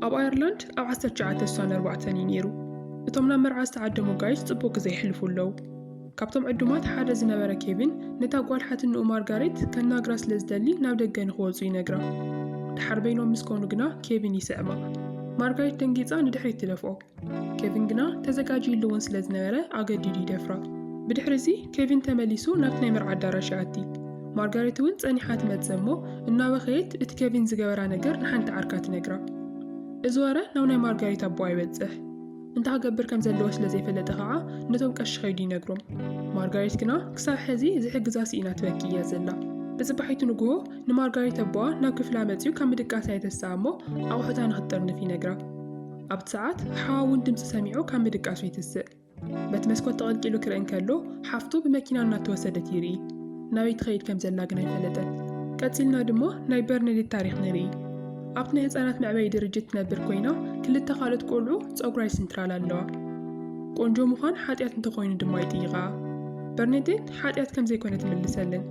ኣብ ኣየርላንድ ኣብ ዓሰርተ ትሽዓተ ዝሳነ ኣርባዕተን እዩ ነይሩ። እቶም ናብ መርዓ ዝተዓደሙ ጋይስ ጽቡቕ ግዜ የሕልፉ ኣለዉ። ካብቶም ዕዱማት ሓደ ዝነበረ ኬቪን ነታ ጓል ሓትንኡ ማርጋሬት ከናግራ ስለ ዝደሊ ናብ ደገ ንኽወጹ ይነግራ። ድሓር በይኖም ምስ ኮኑ ግና ኬቪን ይስዕማ። ማርጋሬት ደንጊጻ ንድሕሪት ትደፍኦ። ኬቪን ግና ተዘጋጅዩሉ እውን ስለ ዝነበረ ኣገዲዱ ይደፍራ። ብድሕሪ እዚ ኬቪን ተመሊሱ ናብቲ ናይ መርዓ ኣዳራሽ ይኣቲ። ማርጋሬት እውን ጸኒሓ ትመጽእ እሞ እናበኸየት እቲ ኬቪን ዝገበራ ነገር ንሓንቲ ዓርካ ትነግራ። እዚ ወረ ናብ ናይ ማርጋሬት ኣቦኣ ይበጽሕ። እንታይ ክገብር ከም ዘለዎ ስለ ዘይፈለጠ ከዓ ነቶም ቀሺ ከይዱ ይነግሮም። ማርጋሬት ግና ክሳብ ሕዚ ዝሕግዛ ስኢና ትበኪ እያ ዘላ። ብጽባሒቱ ንግሆ ንማርጋሬት ኣቦኣ ናብ ክፍላ መጺኡ ካብ ምድቃሳ የተስኣ እሞ ኣቑሑታ ንክትጥርንፍ ይነግራ። ኣብቲ ሰዓት ሓዋ እውን ድምጺ ሰሚዑ ካብ ምድቃሱ ይትስእ። በቲ መስኮት ተቐልቂሉ ክርኢ እንከሎ ሓፍቱ ብመኪና እናተወሰደት ይርኢ። ናበይ ትኸይድ ከም ዘላ ግን ኣይፈለጠን። ቀጺልና ድማ ናይ በርነዴት ታሪኽ ንርኢ። ኣብቲ ናይ ህጻናት መዕበዪ ድርጅት ትነብር ኮይና ክልተ ካልኦት ቆልዑ ጸጉራ ይስንትራላ ኣለዋ። ቆንጆ ምዃን ሓጢኣት እንተኾይኑ ድማ ይጥይቓ። በርነዴት ሓጢኣት ከም ዘይኮነ ትምልሰለን።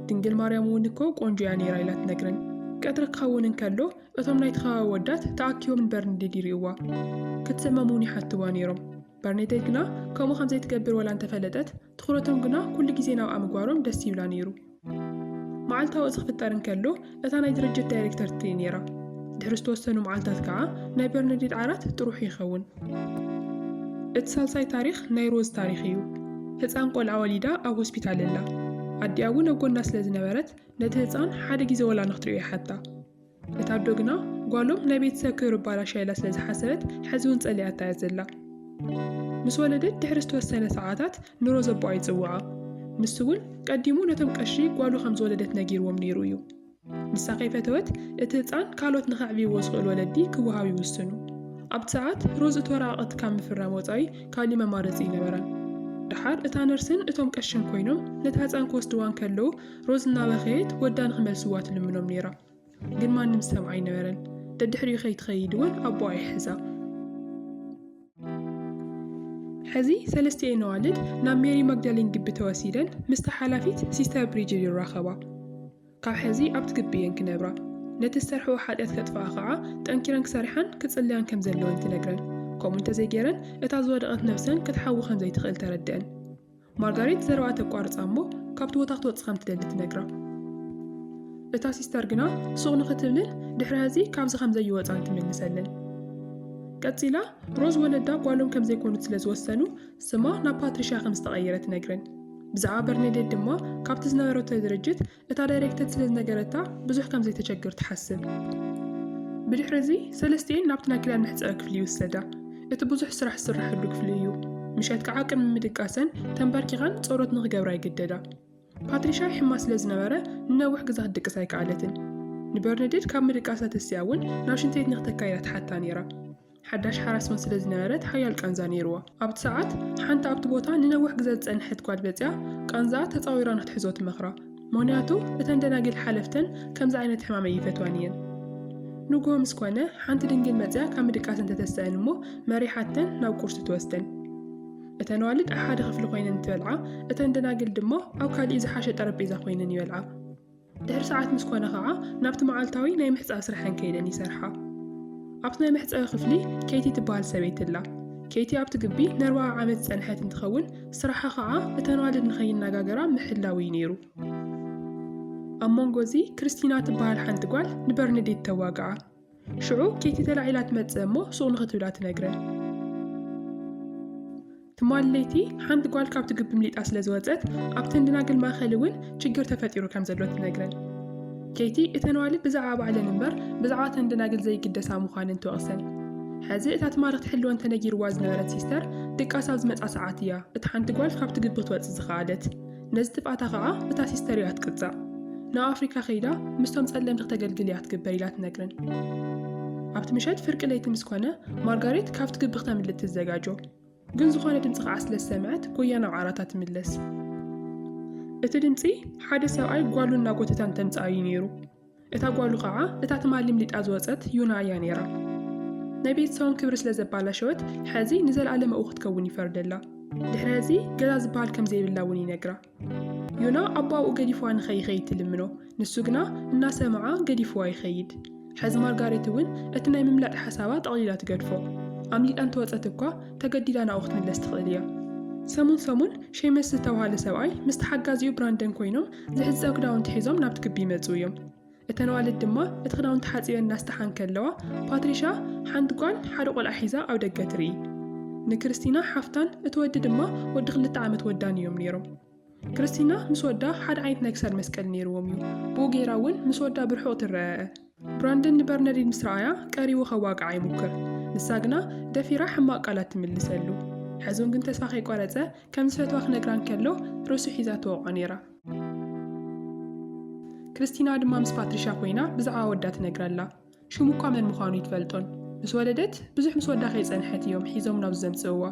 ድንግል ማርያም እውን እኮ ቆንጆ እያ ነይራ ኢላ ትነግረን። ቀትሪ ክኸውን እንከሎ እቶም ናይቲ ከባቢ ኣወዳት ተኣኪቦም ንበርኒደድ ይርእይዋ ክትስመም እውን ይሓትዋ ነይሮም። በርኒደድ ግና ከምኡ ከም ዘይትገብር ወላ እንተፈለጠት፣ ትኹረቶም ግና ኩሉ ግዜ ናብኣ ምግባሮም ደስ ይብላ ነይሩ። መዓልታዊ እዚ ክፍጠር እንከሎ እታ ናይ ድርጅት ዳይሬክተር ትርኢ ነይራ። ድሕሪ ዝተወሰኑ መዓልታት ከኣ ናይ በርኒደድ ዓራት ጥሩሑ ይኸውን። እቲ ሳልሳይ ታሪኽ ናይ ሮዝ ታሪኽ እዩ። ህጻን ቆልዓ ወሊዳ ኣብ ሆስፒታል እላ። ኣዲኣ እውን ኣብ ጎና ስለ ዝነበረት ነቲ ህጻን ሓደ ግዜ ወላ ንክትርእዮ ይሓታ። እታ ኣዶ ግና ጓሎም ናይ ቤተሰብ ክብሪ ኣባላሽያ ኢላ ስለ ዝሓሰበት ሕዚ'ውን ጸሊኣታ እያ ዘላ። ምስ ወለደት ድሕሪ ዝተወሰነ ሰዓታት ንሮ ዘቦኣ ይጽውዓ። ንሱ'ውን ቀዲሙ ነቶም ቀሺ ጓሉ ከም ዝወለደት ነጊርዎም ነይሩ እዩ። ንሳ ከይፈተወት እቲ ህጻን ካልኦት ንከዕብይዎ ዝኽእሉ ወለዲ ክወሃብ ይውስኑ። ኣብቲ ሰዓት ሮዝ እቲ ወረቓቕቲ ካብ ምፍራም ወጻኢ ካልእ መማረጺ ኣይነበራን። ደሓር እታ ነርስን እቶም ቀሽን ኮይኖም ነታ ህጻን ክወስድዋ እንከለዉ፣ ሮዝ እናበኸየት ወዳ ንኽመልስዋ ትልምኖም ነይራ። ግን ማንም ዝሰምዓ ኣይነበረን። ደድሕሪኡ ከይትኸይድ እውን ኣቦኣ ይሕዛ። ሕዚ ሰለስቲኤን ኣዋልድ ናብ ሜሪ ማግዳሊን ግቢ ተወሲደን ምስታ ሓላፊት ሲስተር ብሪጅድ ይራኸባ። ካብ ሕዚ ኣብቲ ግቢ እየን ክነብራ፣ ነቲ ዝሰርሕኦ ሓጢኣት ከጥፍኣ ከዓ ጠንኪረን ክሰርሓን ክጽልያን ከም ዘለወን ትነግረን። ከምኡ እንተዘይገይረን እታ ዝወደቐት ነብሰን ክትሓዊ ከም ዘይትኽእል ተረድአን። ማርጋሬት ዘረባ ተቋርጻ እሞ ካብቲ ቦታ ክትወጽእ ከም ትደሊ ትነግራ። እታ ሲስተር ግና ሱቕ ንኽትብልን ድሕሪ ሐዚ ካብዚ ከም ዘይወጻን ትምልሰለን። ቀጺላ ሮዝ ወለዳ ጓሎም ከም ዘይኮኑት ስለ ዝወሰኑ ስማ ናብ ፓትሪሽያ ከም ዝተቐየረ ትነግረን። ብዛዕባ በርኔዴት ድማ ካብቲ ዝነበረቶ ድርጅት እታ ዳይሬክተር ስለ ዝነገረታ ብዙሕ ከም ዘይተቸግር ትሓስብ። ብድሕሪ እዚ ሰለስቲኤን ናብቲ ናይ ክዳን መሕጸቢ ክፍሊ ይውሰዳ። እቲ ብዙሕ ስራሕ ዝስራሓሉ ክፍሊ እዩ። ምሸት ከዓ ቅድሚ ምድቃሰን ተንበርኪኸን ጸሎት ንክገብራ ይግደዳ። ፓትሪሻ ይሕማ ስለ ዝነበረ ንነዊሕ ግዜ ክትድቅስ ኣይከኣለትን። ንበርነዴት ካብ ምድቃሳ ተሲኣ እውን ናብ ሽንቲ ቤት ንክተካይዳ ትሓታ ነይራ። ሓዳሽ ሓራስን ስለ ዝነበረት ሓያል ቃንዛ ነይርዎ። ኣብቲ ሰዓት፣ ሓንቲ ኣብቲ ቦታ ንነዊሕ ግዘ ዝጸንሐት ጓል መጺኣ ቃንዛኣ ተጻዊራ ንክትሕዞ ትመኽራ። ምኽንያቱ እተን ደናጊል ሓለፍተን ከምዚ ዓይነት ሕማም ኣይፈትዋን እየን። ንግሆ ምስ ኮነ፣ ሓንቲ ድንግል መጺኣ ካብ ምድቃሰን ተተስኣን እሞ መሪሓተን ናብ ቁርሲ ትወስደን። እተን ኣዋልድ ኣብ ሓደ ክፍሊ ኮይነን እንትበልዓ፣ እተን ደናግል ድማ ኣብ ካልእ ዝሓሸ ጠረጴዛ ኮይነን ይበልዓ። ድሕሪ ሰዓት ምስ ኮነ ኸኣ ናብቲ መዓልታዊ ናይ ምሕጻብ ስርሐን ከይደን ይሰርሓ። ኣብቲ ናይ መሕጸቢ ክፍሊ ኬቲ ትበሃል ሰበይቲ ኣላ። ኬቲ ኣብቲ ግቢ ንኣርባዓ ዓመት ዝጸንሐት እንትኸውን፣ ስራሓ ኸኣ እተን ኣዋልድ ንኸይናጋገራ ምሕላው እዩ ነይሩ። ኣብ መንጎ እዚ ክርስቲና ትበሃል ሓንቲ ጓል ንበርነዴት ተዋግኣ። ሽዑ ኬቲ ተላዒላ ትመጽእ እሞ ሱቕ ንኽትብላ ትነግረን። ትማሊ ለይቲ ሓንቲ ጓል ካብቲ ግቢ ምሊጣ ስለ ዝወጸት ኣብቲ እንድናግል ማእኸል እውን ችግር ተፈጢሩ ከም ዘሎ ትነግረን። ኬቲ እተን ኣዋልድ ብዛዕባ ባዕለን እምበር ብዛዕባ እተን ደናግል ዘይግደሳ ምዃነን ትወቕሰን። ሕዚ እታ ትማሪ ክትሕልወን ተነጊርዋ ዝነበረት ሲስተር ድቃስ ኣብ ዝመጽኣ ሰዓት እያ እታ ሓንቲ ጓል ካብቲ ግቢ ክትወጽእ ዝኸኣለት። ነዚ ጥፍኣታ ከኣ እታ ሲስተር እያ ትቅጻዕ። ናብ ኣፍሪካ ከይዳ ምስቶም ጸለምቲ ክተገልግል እያ ትግበር ኢላ ትነግረን። ኣብቲ ምሸት ፍርቂ ለይቲ ምስ ኮነ ማርጋሬት ካብቲ ግቢ ክተምልጥ ትዘጋጆ። ግን ዝኾነ ድምጺ ከኣ ስለ ዝሰምዐት ጎያ ናብ ዓራታ ትምለስ። እቲ ድምጺ ሓደ ሰብኣይ ጓሉ እናጎተታ እንተምጽኣ እዩ ነይሩ። እታ ጓሉ ኸዓ እታ ትማል ልምሊጣ ዝወጸት ዩና እያ ነይራ። ናይ ቤተሰቦም ክብሪ ስለ ዘባላሸወት ሐዚ ንዘልኣለም ኣብኡ ክትከውን ይፈርደላ። ድሕሪ ሐዚ ገዛ ዝበሃል ከም ዘይብላ እውን ይነግራ። ዩና ኣቦኣ ኣብኡ ገዲፍዋ ንኸይኸይድ ትልምኖ፣ ንሱ ግና እናሰምዓ ገዲፍዋ ይኸይድ። ሐዚ ማርጋሬት እውን እቲ ናይ ምምላጥ ሓሳባ ጠቕሊላ ትገድፎ። ኣምሊጣ እንተወጸት እኳ ተገዲዳ ናብኡ ክትምለስ ትኽእል እያ። ሰሙን ሰሙን ሼመስ ዝተብሃለ ሰብኣይ ምስ ተሓጋዚኡ ብራንደን ኮይኖም ዝሕጸብ ክዳውንቲ ሒዞም ናብቲ ግቢ ይመጽኡ እዮም። እተን ኣዋልድ ድማ እቲ ክዳውንቲ ሓጺበን እናስተሓ እንከለዋ፣ ፓትሪሻ ሓንቲ ጓል ሓደ ቆልዓ ሒዛ ኣብ ደገ ትርኢ። ንክርስቲና ሓፍታን እቲ ወዲ ድማ ወዲ ክልተ ዓመት ወዳን እዮም ነይሮም። ክርስቲና ምስ ወዳ ሓደ ዓይነት ናይ ክሳድ መስቀል ነይርዎም እዩ፣ ብኡ ገይራ እውን ምስ ወዳ ብርሑቕ ትረኣኣ። ብራንደን ንበርነዲን ምስ ረኣያ ቀሪቡ ከዋግዓ ይሙክር፣ ንሳ ግና ደፊራ ሕማቕ ቃላት ትምልሰሉ። ሐዞን ግን ተስፋ ከይቆረጸ ከም ዝፈትዋ ክነግራ እንከሎ ርእሱ ሒዛ ትወቕዖ ነይራ። ክርስቲና ድማ ምስ ፓትሪሻ ኮይና ብዛዕባ ወዳ ትነግረላ። ሽሙ እኳ መን ምዃኑ እይትፈልጦን። ምስ ወለደት ብዙሕ ምስ ወዳ ከይጸንሐት እዮም ሒዞም ናብዚ ዘምጽእዋ።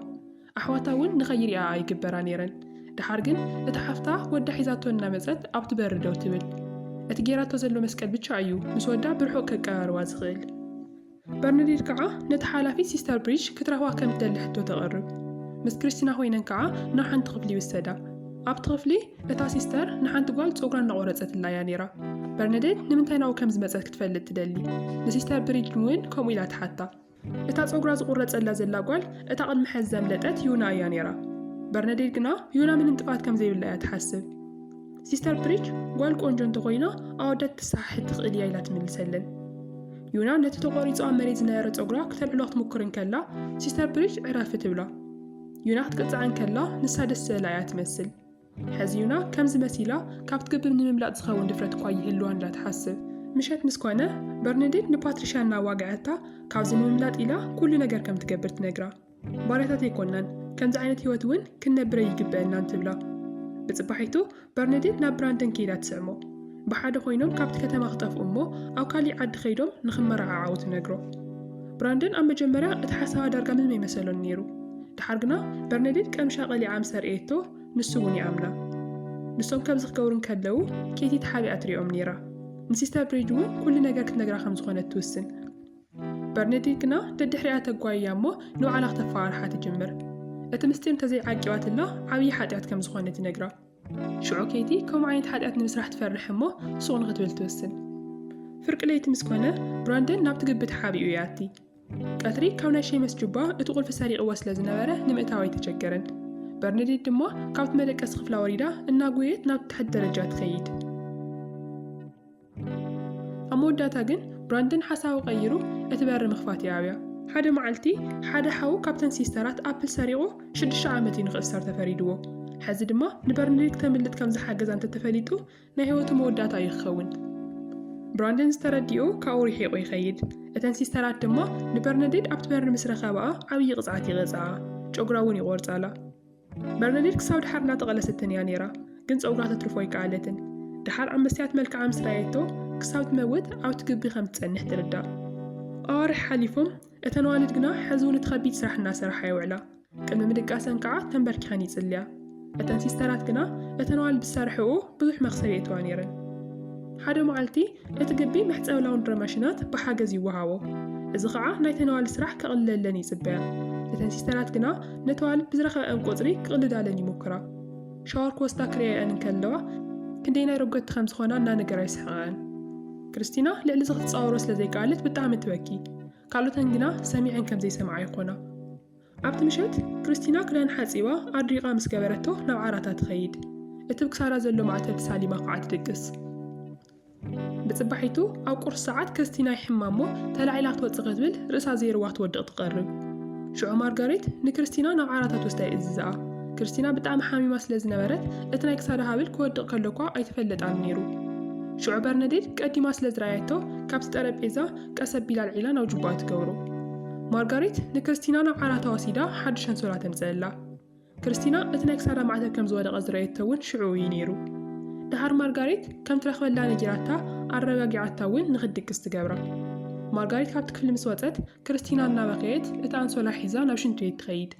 ኣሕዋታ እውን ንኸይሪኣኣ ኣይግበራ ነይረን። ደሓር ግን እታ ሓፍታ ወዳ ሒዛቶ እናመጸት ኣብቲ በሪ ደው ትብል። እቲ ገይራቶ ዘሎ መስቀል ብቻ እዩ ምስ ወዳ ብርሑቕ ከቀራርባ ዝኽእል። በርነዴት ከዓ ነቲ ሓላፊ ሲስተር ብሪጅ ክትረኽባ ከም ትደሊ ሕቶ ተቕርብ። ምስ ክሪስቲና ኮይነን ከዓ ናብ ሓንቲ ክፍሊ ይውሰዳ። ኣብቲ ክፍሊ እታ ሲስተር ንሓንቲ ጓል ጸጉራ እናቖረጸትላ እያ ነይራ። በርነዴት ንምንታይ ናብኡ ከም ዝመጸት ክትፈልጥ ትደሊ። ንሲስተር ብሪጅ እውን ከምኡ ኢላ ትሓታ። እታ ጸጉራ ዝቑረጸላ ዘላ ጓል እታ ቅድሚ ሐዚ ዘምለጠት ዩና እያ ነይራ። በርነዴት ግና ዩና ምንም ጥፍኣት ከም ዘይብላ እያ ትሓስብ። ሲስተር ፕሪች ጓል ቆንጆ እንተኾይና ኣወዳት ክትሰሓሕት ትኽእል እያ ኢላ ትምልሰለን። ዩና ነቲ ተቖሪጹ ኣብ መሬት ዝነበረ ጸጉራ ክተልዕሎ ክትምኩር እንከላ ሲስተር ብሪጅ ዕረፊ ትብላ። ዩና ክትቅጽዓ እንከላ ንሳ ደስ ዝበላ እያ ትመስል። ሐዚዩና ከምዚ መሲላ ካብ ትግብም ንምምላጥ ዝኸውን ድፍረት እኳ ይህልዋን እላ ትሓስብ። ምሸት ምስ ኮነ በርነዴት ንፓትሪሻ እናዋገዐታ ካብዚ ንምምላጥ ኢላ ኩሉ ነገር ከም ትገብር ትነግራ። ባርያታት ኣይኮናን ከምዚ ዓይነት ህይወት እውን ክንነብር ኣይግበእናን ትብላ። ብጽባሒቱ በርነዴት ናብ ብራንደን ከይዳ ትስዕሞ። ብሓደ ኮይኖም ካብቲ ከተማ ክጠፍኡ እሞ ኣብ ካሊእ ዓዲ ከይዶም ንክመረዓዓዉ ትነግሮ። ብራንደን ኣብ መጀመርያ እቲ ሓሳባ ዳርጋ ምንም ኣይመሰሎን ነይሩ። ደሓር ግና በርነዲት ቀምሻ ቀሊዓ ምስ ኣርእየቶ ንሱ እውን ይኣምና። ንሶም ከምዚ ክገብሩ እንከለዉ ኬቲ ተሓቢኣ ትሪኦም ነይራ። ንሲስተር ብሪጅ እውን ኩሉ ነገር ክትነግራ ከም ዝኾነት ትውስን። በርነዲት ግና ደድሕሪኣ ተጓይያ እሞ ንባዕላ ክተፈራርሓ ትጅምር። እቲ ምስጢር እንተዘይዓቂባትላ ዓብዪ ሓጢኣት ከም ዝኾነ ትነግራ። ሽዑ ኬቲ ከምኡ ዓይነት ሓጢኣት ንምስራሕ ትፈርሕ እሞ ሱቕ ንኽትብል ትውስን። ፍርቂ ለይቲ ምስ ኮነ፣ ብራንደን ናብቲ ግቢ ተሓቢኡ ይኣቲ። ቀትሪ ካብ ናይ ሼመስ ጁባ እቲ ቁልፊ ሰሪቕዎ ስለ ዝነበረ ንምእታው ኣይተቸገረን። በርነዴት ድማ ካብቲ መደቀሲ ክፍላ ወሪዳ እናጎየየት ናብቲ ታሕቲ ደረጃ ትኸይድ። ኣብ መወዳእታ ግን ብራንደን ሓሳቡ ቀይሩ እቲ በሪ ምኽፋት ይኣብያ። ሓደ መዓልቲ ሓደ ሓው ካብተን ሲስተራት ኣፕል ሰሪቑ ሽዱሽተ ዓመት እዩ ንኽእሰር ተፈሪድዎ። ሕዚ ድማ ንበርንዲ ክተምልጥ ከም ዝሓገዛ እንተተፈሊጡ ናይ ህይወቱ መወዳእታ እዩ ክኸውን። ብራንደን ዝተረዲኡ ካብኡ ርሒቑ ይኸይድ። እተን ሲስተራት ድማ ንበርነዴድ ኣብቲ በሪ ምስ ረኸባኣ ዓብዪ ቅፅዓት ይቐፅዓኣ፣ ጨጉራ እውን ይቖርፃላ። በርነዲት ክሳብ ድሓር እናተቐለሰትን እያ ነይራ፣ ግን ጸጉራ ተትርፎ ኣይከኣለትን። ድሓር ኣብ መስትያት መልክዓ ምስ ረኣየቶ፣ ክሳብ ትመውት ኣብቲ ግቢ ከም ትጸንሕ ትርዳእ። ኣዋርሕ ሓሊፎም፣ እተን ኣዋልድ ግና ሕዚ እውን እቲ ከቢድ ስራሕ እናሰራሓ ይውዕላ። ቅድሚ ምድቃሰን ከዓ ተንበርኪኸን ይጽልያ። እተን ሲስተራት ግና እተን ኣዋልድ ዝሰርሕኦ ብዙሕ መኽሰብ የእትዋ ነይረን። ሓደ መዓልቲ እቲ ግቢ መሕጸቢ ላውንድሪ ማሽናት ብሓገዝ ይወሃቦ፣ እዚ ኸኣ ናይተን ኣዋልድ ስራሕ ከቕልለለን ይጽበያ። እተን ሲስተራት ግና ነቲ ኣዋልድ ብዝረኸበኣን ቁጽሪ ክቕልዳለን ይሙኩራ። ሻወር ክወስዳ ክርእያኣን እንከለዋ ክንደየናይ ረገድቲ ከም ዝኾና እናነገራ ይስሕቓኣን። ክርስቲና ልዕሊ እዚ ክትጻወሮ ስለ ዘይከኣለት ብጣዕሚ ትበኪ። ካልኦተን ግና ሰሚዐን ከም ዘይሰምዓ ይኾና። ኣብቲ ምሸት፣ ክርስቲና ክዳን ሓጺባ ኣድሪቓ ምስ ገበረቶ ናብ ዓራታ ትኸይድ። እቲ ብ ክሳዳ ዘሎ ማእተብ ተሳሊማ ከኣ ትድቅስ። ብጽባሒቱ ኣብ ቁርሲ ሰዓት ክርስቲና ይሕማ'ሞ ተላዒላ ክትወጽእ ክትብል ርእሳ ዘይርዋ ትወድቕ ትቐርብ። ሽዑ ማርጋሬት ንክርስቲና ናብ ዓራታ ትወስዳ ይእዝዛኣ። ክርስቲና ብጣዕሚ ሓሚማ ስለ ዝነበረት እቲ ናይ ክሳዳ ሃብል ክወድቕ ከሎ'ኳ ኣይተፈለጣን ነይሩ። ሽዑ በርነዴት ቀዲማ ስለ ዝረኣየቶ ካብቲ ጠረጴዛ ቀስ ኣቢላ ኣልዒላ ናብ ጁባኣ ትገብሮ። ማርጋሪት ንክርስቲና ናብ ዓራታ ወሲዳ ሓድሽ ኣንሶላ ተምጽኣላ። ክርስቲና እቲ ናይ ክሳዳ ማዕተብ ከም ዝወደቐ ዝረኣየቶ እውን ሽዑ እዩ ነይሩ። ደሓር ማርጋሪት ከም ትረኽበላ ነጊራታ ኣረጋጊዓታ እውን ንክትድቅስ ትገብራ። ማርጋሪት ካብቲ ክፍሊ ምስ ወጸት ክርስቲና እናበኸየት እቲ ኣንሶላ ሒዛ ናብ ሽንቲ ቤት ትኸይድ።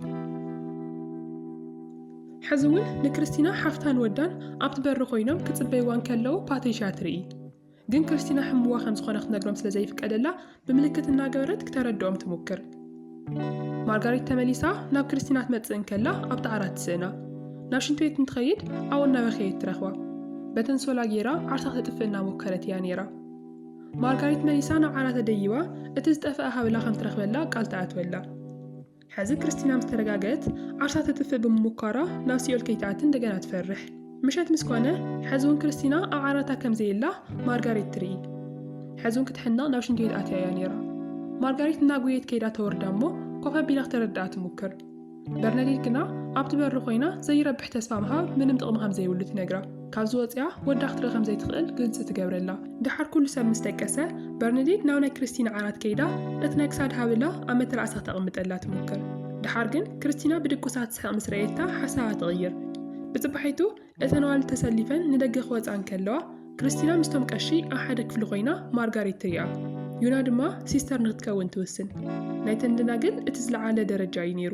ሕዚ እውን ንክርስቲና ሓፍታን ወዳን ኣብቲ በሪ ኮይኖም ክጽበይዋ እንከለዉ ፓትሪሻ ትርኢ። ግን ክርስቲና ሕምዋ ከም ዝኾነ ክትነግሮም ስለ ዘይፍቀደላ ብምልክት እናገበረት ክተረድኦም ትሙክር። ማርጋሪት ተመሊሳ ናብ ክርስቲና ትመጽእ እንከላ ኣብቲ ዓራት ትስእና። ናብ ሽንቲ ቤት እንትኸይድ ኣብኡ እናበኸየት ትረኽባ። በተንሶላ ጌራ ዓርሳ ተጥፍእ እናሞከረት እያ ነይራ። ማርጋሪት መሊሳ ናብ ዓራተ ደይባ እቲ ዝጠፍአ ሃብላ ከም ትረኽበላ ቃል ትኣትወላ። ሕዚ ክርስቲና ምስ ተረጋገት ዓርሳ ተጥፍእ ብምሙኳራ ናብ ሲኦል ከይትኣቲ እንደገና ትፈርሕ። ምሸት ምስ ኮነ ሕዚ ውን ክርስቲና ኣብ ዓራታ ከም ዘየላ ማርጋሬት ትርኢ። ሕዚ ውን ክትሕነቕ ናብ ሽንቲ ቤት ኣትያ እያ ነይራ። ማርጋሬት እናጎየየት ከይዳ ተወርዳ እሞ ኮፍ ኣቢላ ክተረድኣ ትሙክር። በርነዴት ግና ኣብቲ በሪ ኮይና ዘይረብሕ ተስፋ ምሃብ ምንም ጥቕሚ ከም ዘይብሉ ትነግራ። ካብዚ ወጺኣ ወዳ ክትርኢ ከም ዘይትኽእል ግልጺ ትገብረላ። ደሓር ኩሉ ሰብ ምስ ደቀሰ፣ በርነዲት ናብ ናይ ክርስቲና ዓራት ከይዳ እቲ ናይ ክሳድ ሃብላ ኣብ መተርኣሳ ተቐምጠላ ትሞክር። ደሓር ግን ክርስቲና ብድቁሳ ትስሕቕ ምስ ረኣየታ ሓሳባ ትቕይር። ብጽባሒቱ እተን ኣዋልድ ተሰሊፈን ንደገ ክወጻ እንከለዋ፣ ክርስቲና ምስቶም ቀሺ ኣብ ሓደ ክፍሊ ኮይና ማርጋሬት ትሪኣ። ዩና ድማ ሲስተር ንክትከውን ትውስን። ናይተን ደናግል እቲ ዝለዓለ ደረጃ እዩ ነይሩ።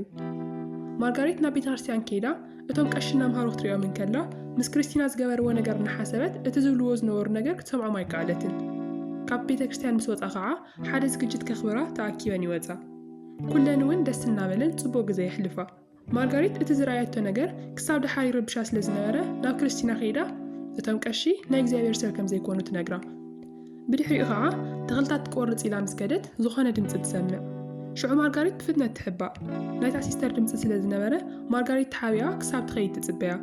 ማርጋሬት ናብ ቤተ ክርስቲያን ከይዳ እቶም ቀሺ እናምሃሩ ክትሪኦም እንከላ፣ ምስ ክሪስቲና ዝገበርዎ ነገር እናሓሰበት እቲ ዝብልዎ ዝነበሩ ነገር ክትሰምዖም ኣይከኣለትን። ካብ ቤተ ክርስቲያን ምስ ወጻ ኸዓ ሓደ ዝግጅት ከኽብራ ተኣኪበን ይወጻ። ኩለን እውን ደስ እናበለን ጽቡቕ ግዘ የሕልፋ። ማርጋሪት እቲ ዝረኣየቶ ነገር ክሳብ ደሓር ይረብሻ ስለ ዝነበረ ናብ ክሪስቲና ከይዳ እቶም ቀሺ ናይ እግዚኣብሔር ሰብ ከም ዘይኮኑ ትነግራ። ብድሕሪኡ ኸዓ ተኽልታት ትቆርጽ ኢላ ምስ ከደት ዝኾነ ድምጺ ትሰምዕ። ሽዑ ማርጋሪት ብፍጥነት ትሕባእ። ናይታ ሲስተር ድምጺ ስለ ዝነበረ ማርጋሪት ተሓቢኣ ክሳብ ትኸይድ ትጽበያ።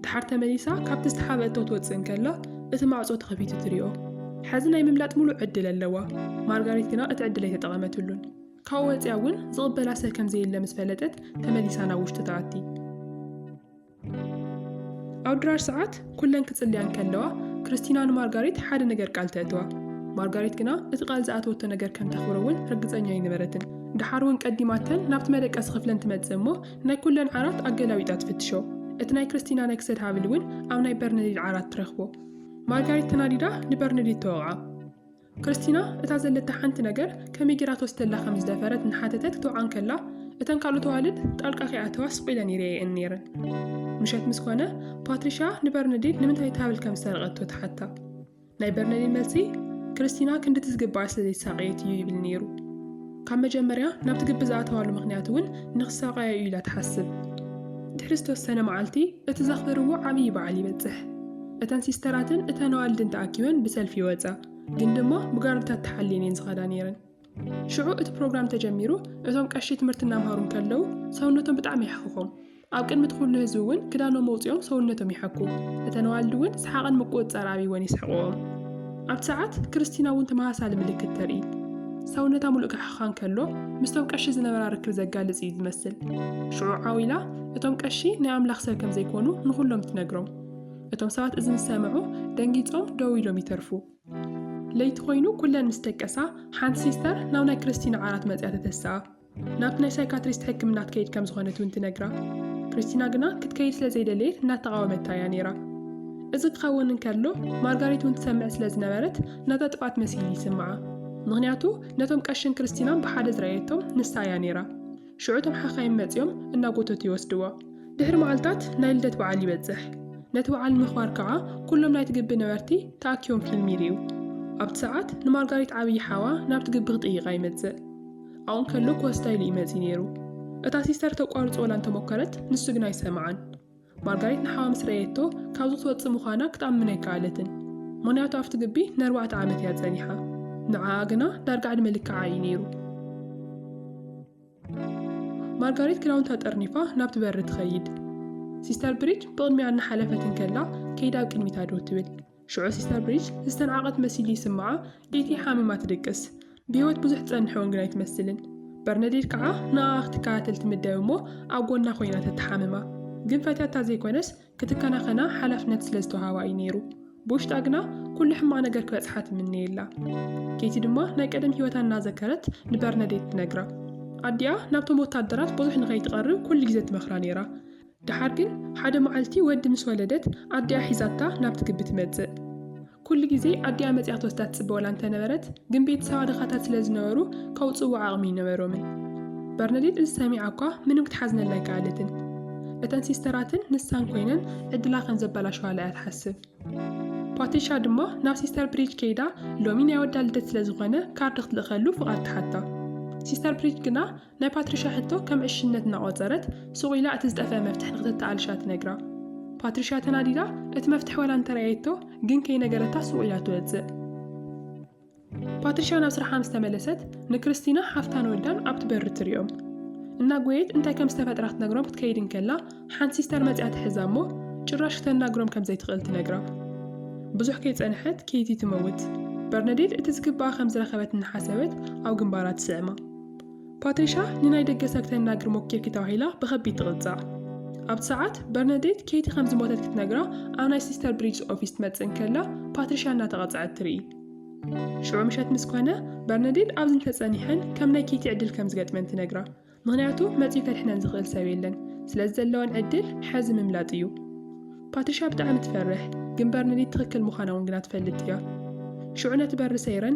ደሓር ተመሊሳ ካብቲ ዝተሓብአቶ ትወጽእ እንከላ እቲ ማዕጾ ተኸፊቱ ትሪኦ። ሕዚ ናይ ምምላጥ ምሉእ ዕድል ኣለዋ። ማርጋሪት ግና እቲ ዕድል ኣይተጠቐመትሉን። ካብኡ ወጺኣ እውን ዝቕበላ ሰብ ከም ዘየለ ምስ ፈለጠት ተመሊሳ ናብ ውሽጢ ትኣቲ። ኣብ ድራር ሰዓት ኩለን ክጽልያ እንከለዋ ክርስቲና ንማርጋሪት ሓደ ነገር ቃል ተእትዋ። ማርጋሪት ግና እቲ ቃል ዝኣተወቶ ነገር ከም ተኽብሮ እውን ርግጸኛ ኣይነበረትን። ደሓር እውን ቀዲማተን ናብቲ መደቀሲ ክፍለን ትመጽእ እሞ ናይ ኩለን ዓራት ኣገላቢጣ ትፍትሾ። እቲ ናይ ክርስቲና ናይ ክሰድ ሃብል እውን ኣብ ናይ በርነዲድ ዓራት ትረኽቦ። ማርጋሪት ተናዲዳ ንበርነዲድ ተወቕዓ። ክርስቲና እታ ዘለታ ሓንቲ ነገር ከመይ ጌራ ትወስደላ ከም ዝደፈረት እናሓተተት ክትወዓ እንከላ፣ እተን ካልኦት ኣዋልድ ጣልቃ ከይኣተዋ ስቕ ኢለን ይርእየኤን ነይረን። ምሸት ምስ ኮነ፣ ፓትሪሽያ ንበርነዲን ንምንታይ እታ ሃብል ከም ዝሰረቐቶ ትሓታ። ናይ በርነዲን መልሲ፣ ክርስቲና ክንድቲ ዝግብኣ ስለ ዘይተሳቐየት እዩ ይብል ነይሩ። ካብ መጀመርያ ናብቲ ግቢ ዝኣተዋሉ ምኽንያት እውን ንኽሳቐያ እዩ ኢላ ትሓስብ። ድሕሪ ዝተወሰነ መዓልቲ እቲ ዘኽብርዎ ዓብዪ በዓል ይበጽሕ። እተን ሲስተራትን እተን ኣዋልድን ተኣኪበን ብሰልፊ ይወጻ፣ ግን ድማ ብጋርድታት ተሓልየን እየን ዝኸዳ ነይረን። ሽዑ እቲ ፕሮግራም ተጀሚሩ እቶም ቀሺ ትምህርቲ እናምሃሩ እንከለዉ ሰውነቶም ብጣዕሚ የሕኽኾም። ኣብ ቅድሚ እቲ ዅሉ ህዝቢ እውን ክዳኖም ኣውጺኦም ሰውነቶም ይሓኩ፣ እተን ኣዋልድ እውን ሰሓቕን ምቍጽጻር ኣብይወን የስሕቕኦም። ኣብቲ ሰዓት፣ ክርስቲና እውን ተመሳሳሊ ምልክት ተርኢ። ሰውነታ ምሉእ ክሓኽኻ እንከሎ፣ ምስቶም ቀሺ ዝነበራ ርክብ ዘጋልጽ ኢዩ ዝመስል። ሽዑ ዓው ኢላ፣ እቶም ቀሺ ናይ ኣምላኽ ሰብ ከም ዘይኰኑ ንዅሎም ትነግሮም። እቶም ሰባት እዚ ምስ ሰምዑ፣ ደንጊጾም ደው ኢሎም ይተርፉ። ለይቲ ኰይኑ ኵለን ምስ ደቀሳ፣ ሓንቲ ሲስተር ናብ ናይ ክርስቲና ዓራት መጺኣ ተተስኣ። ናብቲ ናይ ሳይካትሪስት ሕክምና ትከይድ ከም ዝኾነት እውን ትነግራ። ክሪስቲና ግና ክትከይድ ስለ ዘይደለየት እናተቓወመታ እያ ነይራ። እዚ ክኸውን እንከሎ ማርጋሪት እውን ትሰምዕ ስለ ዝነበረት ናታ ጥፍኣት መሲሉ ይስምዓ። ምክንያቱ ነቶም ቀሽን ክርስቲናን ብሓደ ዝረኣየቶም ንሳ እያ ነይራ። ሽዑ እቶም ሓኻይም መጺኦም እናጎተቱ ይወስድዋ። ድሕሪ መዓልታት ናይ ልደት በዓል ይበጽሕ። ነቲ በዓል ንምኽባር ከዓ ኩሎም ናይቲ ግቢ ነበርቲ ተኣኪቦም ፊልም ይርእዩ። ኣብቲ ሰዓት ንማርጋሪት ዓብዪ ሓዋ ናብቲ ግቢ ክጥይቃ ይመጽእ። ኣብኡ እንከሎ ኮስታ ኢሉ እዩ መጺኡ ነይሩ። እታ ሲስተር ተቋርጾላ እንተ ሞከረት፣ ንሱ ግን ኣይሰምዓን። ማርጋሪት ንሓዋ ምስ ረኣየቶ፣ ካብዚ ክትወጽእ ምዃና ክትኣምን ኣይከኣለትን። ምኽንያቱ ኣብቲ ግቢ ንኣርባዕተ ዓመት እያ ጸኒሓ። ንዓኣ ግና ዳርጋ ዕድመ ልክዓ እዩ ነይሩ። ማርጋሪት ክዳውንታ ጠርኒፋ ናብቲ በሪ ትኸይድ። ሲስተር ብሪጅ ብቕድሚኣ እናሓለፈት እንከላ ከይዳ ኣብ ቅድሚታ ደው ትብል። ሽዑ ሲስተር ብሪጅ ዝተናዕቐት መሲሉ ይስምዓ፣ ዴቲ ሓሚማ ትድቅስ፣ ብህይወት ብዙሕ ትጸንሕ'ውን ግን ኣይትመስልን። በርነዴት ከኣ ንኣኣ ክትከታተል ትምደብ እሞ ኣብ ጎና ኮይና ተተሓምማ። ግን ፈትያታ ዘይኮነስ ክትከናኸና ሓላፍነት ስለ ዝተዋህባ እዩ ነይሩ። ብውሽጣ ግና ኩሉ ሕማቕ ነገር ክበጽሓ ትምነየላ። ኬቲ ድማ ናይ ቀደም ህይወታ እናዘከረት ንበርነዴት ትነግራ። ኣዲኣ ናብቶም ወታደራት ብዙሕ ንኸይትቐርብ ኩሉ ግዜ ትመኽራ ነይራ። ደሓር ግን ሓደ መዓልቲ ወዲ ምስ ወለደት ኣዲኣ ሒዛታ ናብቲ ግቢ ትመጽእ። ኩሉ ግዜ ኣዲኣ መጺኣ ክትወስዳ ትጽበወላ እንተነበረት ግን ቤተሰባ ድኻታት ስለ ዝነበሩ ከውጽእዋ ዓቕሚ ኣይነበሮምን። በርነዴት እዚ ሰሚዓ እኳ ምንም ክትሓዝነላ ኣይከኣለትን። እተን ሲስተራትን ንሳን ኮይነን ዕድላ ከም ዘበላሸዋላ እያ ትሓስብ። ፓትሪሻ ድማ ናብ ሲስተር ብሪጅ ከይዳ ሎሚ ናይ ወዳ ልደት ስለ ዝኾነ ካርድ ክትልእኸሉ ፍቓድ ትሓታ። ሲስተር ብሪጅ ግና ናይ ፓትሪሻ ሕቶ ከም ዕሽነት እናቖጸረት፣ ሱቕ ኢላ እቲ ዝጠፍአ መፍትሕ ንኽተተኣልሻ ትነግራ። ፓትሪሻ ተናዲዳ እቲ መፍትሕ ዋላ እንተረኣየቶ ግን ከይነገረታ ሱቕ ኢላ ትወጽእ። ፓትሪሻ ናብ ስራሓ ምስ ተመለሰት ንክርስቲና ሓፍታን ወዳን ኣብቲ በሪ ትሪኦም። እናጎየት እንታይ ከም ዝተፈጥራ ክትነግሮም ክትከይድ እንከላ ሓንቲ ሲስተር መጺኣ ትሕዛ እሞ ጭራሽ ክተናግሮም ከም ዘይትኽእል ትነግራ። ብዙሕ ከይጸንሐት ኬቲ ትመውት። በርነዴት እቲ ዝግብኣ ከም ዝረኸበት እናሓሰበት ኣብ ግንባራ ትስዕማ። ፓትሪሻ ንናይ ደገ ሰብ ክተናግር ሞኪርኪ ተባሂላ ብኸቢድ ትቕጻዕ። ኣብቲ ሰዓት፣ በርነዴት ኬቲ ከም ዝሞተት ክትነግራ ኣብ ናይ ሲስተር ብሪጅስ ኦፊስ ትመጽእ እንከላ ፓትሪሻ እናተቐጽዐት ትርኢ። ሽዑ ምሸት ምስ ኮነ፣ በርነዴት ኣብዚ እንተጸኒሐን ከም ናይ ኬቲ ዕድል ከም ዝገጥመን ትነግራ። ምኽንያቱ መጺኡ ከድሕነን ዝኽእል ሰብ የለን። ስለዚ ዘለወን ዕድል ሕዚ ምምላጥ እዩ። ፓትሪሻ ብጣዕሚ ትፈርሕ፣ ግን በርነዴት ትኽክል ምዃና እውን ግና ትፈልጥ እያ። ሽዑ ነቲ በሪ ሰይረን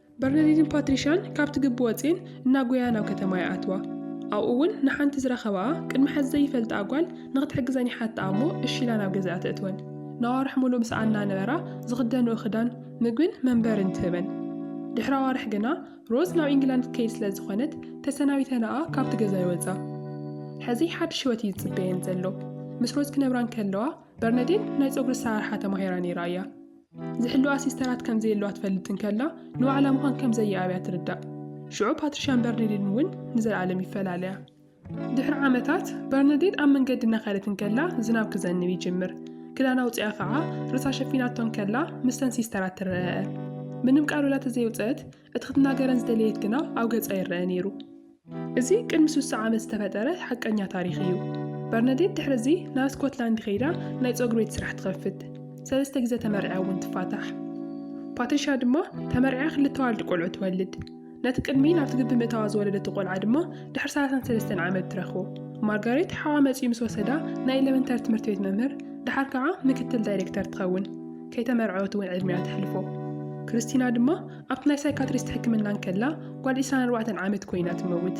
በርነዲንን ፓትሪሻን ካብቲ ግቢ ወጺኤን እናጎያ ናብ ከተማ ይኣትዋ። ኣብኡ እውን ንሓንቲ ዝረኸባኣ ቅድሚ ሕዚ ዘይፈልጣኣ ጓል ንኽትሕግዘን ይሓትኣ እሞ እሺ ኢላ ናብ ገዝኣ ተእትወን። ንኣዋርሕ ምሉእ ምስኣ እናነበራ ዝኽደንኦ ክዳን፣ ምግብን መንበርን ትህበን። ድሕሪ ኣዋርሕ ግና ሮዝ ናብ ኢንግላንድ ክትከይድ ስለ ዝኾነት ተሰናቢተናኣ ካብቲ ገዛ ይወጻ። ሕዚ ሓድሽ ህይወት እዩ ዝጽበየን ዘሎ። ምስ ሮዝ ክነብራ እንከለዋ በርነዲን ናይ ጸጉሪ ኣሰራርሓ ተማሂራ ነይራ እያ። ዝሕልዋ ሲስተራት ከም ዘየለዋ ትፈልጥ እንከላ፣ ንባዕላ ምዃን ከም ዘየኣብያ ትርዳእ። ሽዑ ፓትሪሻን በርነዲንን እውን ንዘለኣለም ይፈላለያ። ድሕሪ ዓመታት፣ በርነዲን ኣብ መንገዲ እናኸደት እንከላ ዝናብ ክዘንብ ይጅምር። ክዳና ኣውጺኣ ኸኣ ርእሳ ሸፊናቶ እንከላ ምስተን ሲስተራት ትረኣኣ። ምንም ቃል ወላ ተዘየውጽአት፣ እቲ ክትናገረን ዝደለየት ግና ኣብ ገጻ ይረኣ ነይሩ። እዚ ቅድሚ ስሳ ዓመት ዝተፈጠረ ሓቀኛ ታሪኽ እዩ። በርነዴት ድሕሪ እዚ ናብ ስኮትላንድ ከይዳ ናይ ጸጉሪ ቤት ስራሕ ትኸፍት። ሰለስተ ግዜ ተመርዕያ እውን ትፋታሕ። ፓትሪሻ ድማ ተመርዕያ ክልተ ዋልድ ቆልዑ ትወልድ። ነቲ ቅድሚ ናብቲ ግቢ ምእታዋ ዝወለደቶ ቆልዓ ድማ ድሕሪ ሰላሳን ሰለስተን ዓመት ትረኽቦ ማርጋሬት ሓዋ መጺኡ ምስ ወሰዳ ናይ ኤሌመንተሪ ትምህርቲ ቤት መምህር ድሓር ከዓ ምክትል ዳይሬክተር ትኸውን ከይተመርዐወት እውን ዕድሚኣ ተሕልፎ። ክርስቲና ድማ ኣብቲ ናይ ሳይካትሪስት ሕክምና እንከላ ጓል ዕስራን ኣርባዕተን ዓመት ኮይና ትመውት።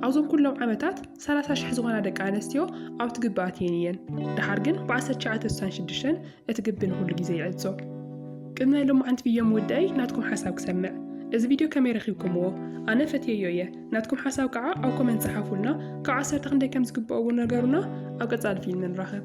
ኣብዞም ኩሎም ዓመታት ሰላሳ ሽሕ ዝኾና ደቂ ኣነስትዮ ኣብቲ ግቢ ኣትየን እየን። ደሓር ግን ብ ዓሰርተ ትሽዓተ ስሳን ሽዱሽተን እቲ ግቢ ንኹሉ ግዜ ይዕጾ። ቅድሚ ናይ ሎማዓንቲ ቪዮ ምውዳኣይ ናትኩም ሓሳብ ክሰምዕ። እዚ ቪድዮ ከመይ ረኺብኩምዎ? ኣነ ፈትየዮ እየ። ናትኩም ሓሳብ ከኣ ኣብ ኮመንት ጸሓፉልና፣ ካብ ዓሰርተ ክንደይ ከም ዝግብኦ እውን ነገሩና። ኣብ ቀጻሊ ፊልም ንራኸብ።